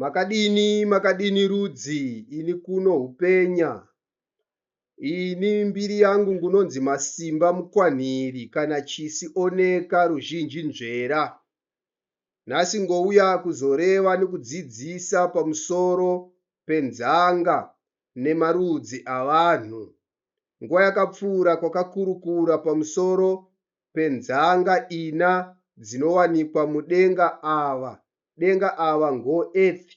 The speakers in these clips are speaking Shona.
Makadini makadini rudzi ini kuno hupenya ini mbiri yangu ngunonzi masimba mukwanhiri kana chisi oneka ruzhinji nzvera nhasi ngouya kuzoreva nekudzidzisa pamusoro penzanga nemarudzi avanhu nguva yakapfuura kwakakurukura pamusoro penzanga ina dzinowanikwa mudenga ava, denga ava ngo earth,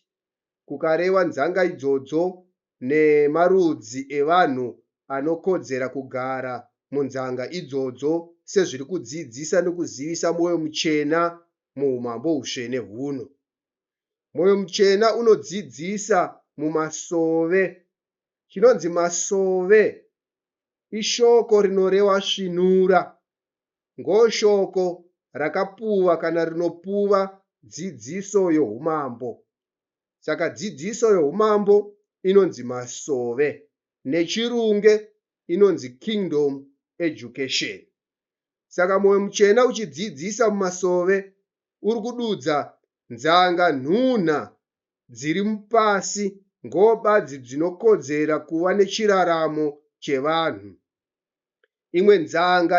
kukarewa nzanga idzodzo nemarudzi evanhu anokodzera kugara munzanga idzodzo sezviri kudzidzisa nokuzivisa Mwoyo Muchena muHumambo Hutsvene huno. Mwoyo Muchena unodzidzisa mumasove. Chinonzi masove Ishoko rinorewa svinura. Ngoshoko rakapuwa kana rinopuwa dzidziso yoUmambo. Saka dzidziso yoUmambo inonzi masove. NeChirunge inonzi Kingdom Education. Saka Mwoyo Mutsvena uchidzidzisa mumasove uri kududza nzanga nhunha dziri mupasi ngobadzi dzinokodzera kuva nechiraramo chevanhu. Imwe nzanga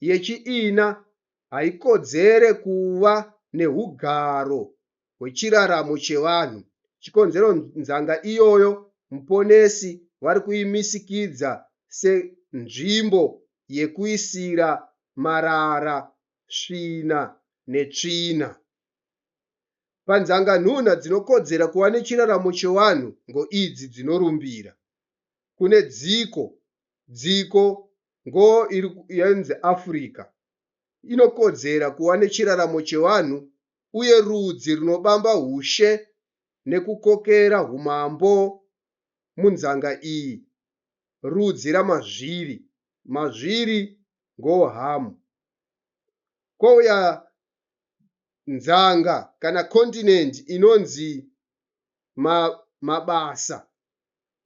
yechiina haikodzere kuva nehugaro hwechiraramo chevanhu, chikonzero nzanga iyoyo Muponesi vari kuimisikidza senzvimbo yekuisira marara, svina netsvina. Panzanga nhuna dzinokodzera kuva nechiraramo chewanhu ngo idzi dzinorumbira. Kune dziko, dziko ngo iri yenzi Africa inokodzera kuva nechiraramo chewanhu uye rudzi runobamba hushe nekukokera humambo munzanga iyi rudzi ramazviri, mazviri ngo Hamu. Kouya nzanga kana continent inonzi ma, mabasa.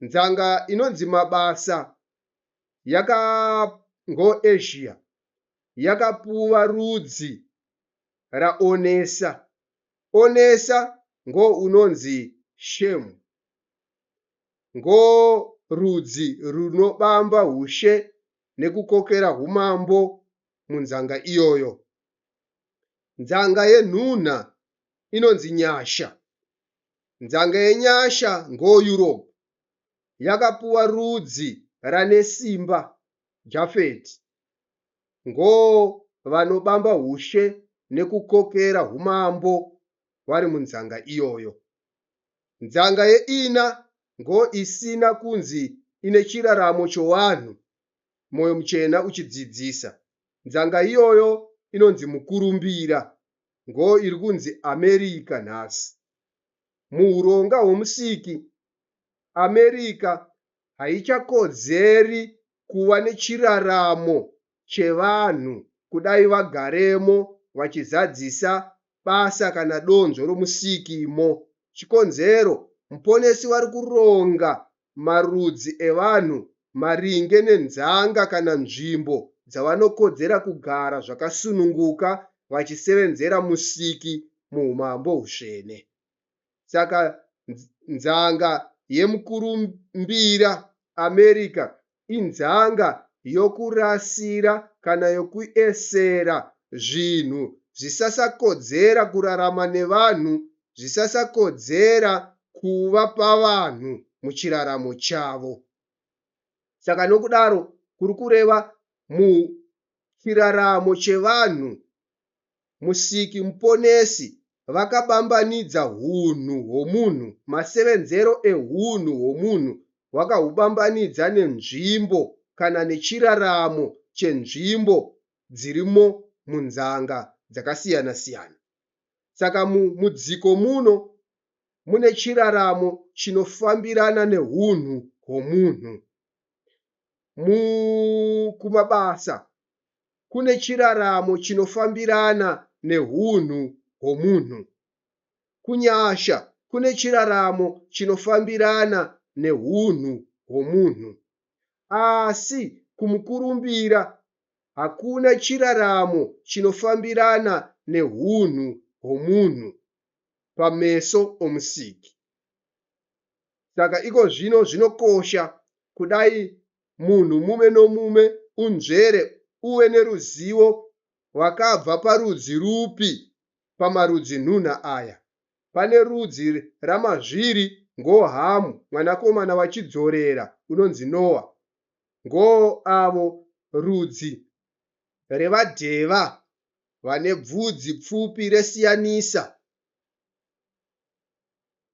Nzanga inonzi mabasa yakangoAsia yakapuwa rudzi raonesa. Onesa ngo unonzi shemu ngo rudzi runobamba hushe nekukokera humambo munzanga iyoyo. Nzanga yenhunha inonzi nyasha. Nzanga yenyasha ngoYuropu yakapuwa rudzi ranesimba Jafeti. Ngovanobamba ushe nekukokera humambo vari munzanga iyoyo. Nzanga yeina ngoisina kunzi ine chiraramo chowanhu, Moyo Muchena uchidzidzisa. Nzanga iyoyo inonzi mukurumbira ngo iri kunzi America nhasi. Muhuronga hwoMusiki, America haichakodzeri kuva nechiraramo chevanhu kudai vagaremo vachizadzisa basa kana donzvo roMusiki mo. Chikonzero, Muponesi vari kuronga marudzi evanhu maringe nenzanga kana nzvimbo dzavanokodzera kugara zvakasununguka vachisevenzera Musiki muHumambo Husvene. Saka nzanga yemukurumbira America inzanga yokurasira kana yokuesera zvinhu zvisasakodzera kurarama nevanhu, zvisasakodzera kuva pavanhu muchiraramo chavo. Saka nokudaro kuri kureva muchiraramo chevanhu Musiki Muponesi vakabambanidza hunhu hwomunhu, masevenzero ehunhu hwomunhu wakahubambanidza nenzvimbo kana nechiraramo chenzvimbo dzirimo munzanga dzakasiyana siyana. Saka mu mudziko muno mune chiraramo chinofambirana nehunhu hwomunhu. Mu kumabasa kune chiraramo chinofambirana nehunhu hwomunhu. Kunyasha kune chiraramo chinofambirana nehunhu hwomunhu. Asi kumukurumbira hakuna chiraramo chinofambirana nehunhu hwomunhu pameso oMusiki. Saka ikozvino zvinokosha kudai munhu mumwe nomumwe unzvere uve neruzivo rwakabva parudzi rupi pamarudzi nhunha aya. Pane rudzi ramazviri ngo Hamu mwanakomana waChidzorera unonzi Noa, ngo avo rudzi revaDheva vane bvudzi pfupi resiyanisa,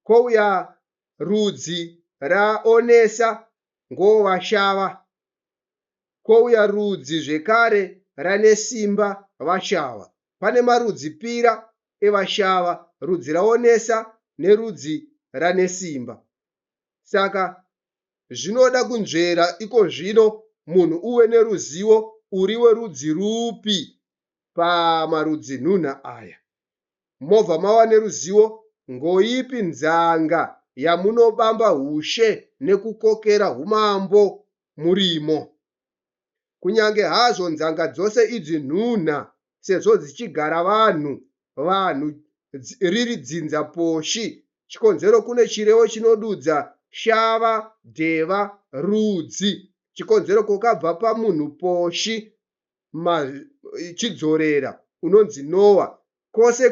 kouya rudzi raOnesa ngovashava, kouya rudzi zvekare ranesimba vashava. Pane marudzi pira evashava, rudzi raonesa nerudzi ranesimba. Saka zvinoda kunzvera ikozvino munhu uve neruzivo uri werudzi rupi pamarudzi nhunha aya. mobva mava neruzivo ngoipi nzanga yamunobamba hushe nekukokera humambo murimo. Kunyange hazvo nzanga dzose idzi nhunha sezvo dzichigara vanhu vanhu riri dzinza poshi chikonzero kune chirevo chinodudza shava, deva, rudzi. Chikonzero kokabva pamunhu poshi ma chidzorera unonzi Noah kose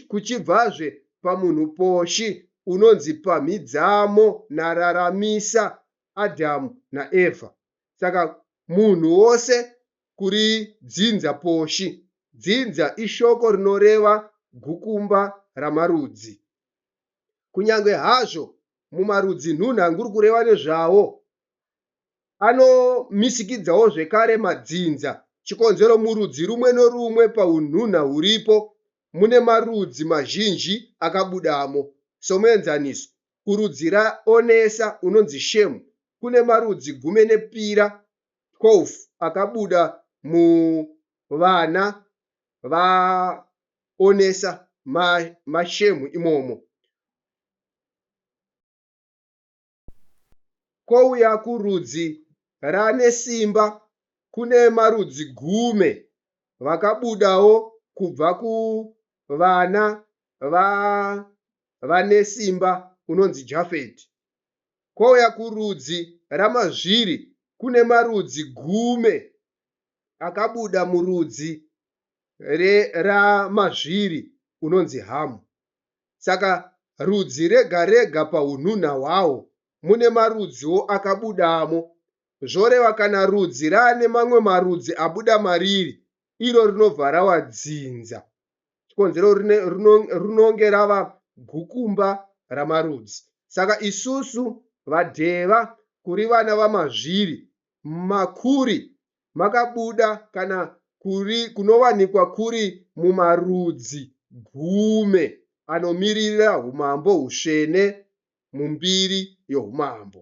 kuchibvazve pamunhu poshi unonzi pamhidzamo na raramisa Adam na Eva saka munhu wose kuri dzinza poshi dzinza ishoko rinoreva gukumba ramarudzi kunyange hazvo mumarudzi nhunha nguri kureva nezvawo anomisikidzawo zvekare madzinza, chikonzero murudzi rumwe norumwe paunhunha huripo mune marudzi mazhinji akabudamo. Somuenzaniso, kurudzi raOnesa unonzi Shemu kune marudzi gumi nepira, 12, akabuda muvana vaOnesa, maShemu, imomo. Kouya kurudzi raAnesimba kune marudzi gume vakabudawo kubva kuvana vaAnesimba unonzi Jafeti. Kouya kurudzi raMazviri kune marudzi gume akabuda murudzi raMazviri unonzi Hamu. Saka rudzi rega rega paunhunha hwaho mune marudziwo akabudamo. Zvoreva kana rudzi raane mamwe marudzi abuda mariri, iro rinobva rava dzinza. Chikonzero rinonge rava gukumba ramarudzi. Saka isusu vaDheva kuri vana vaMazviri, Makuri, makabuda kana kuri kunowanikwa kuri mumarudzi gume anomiririra humambo husvene mumbiri yohumambo.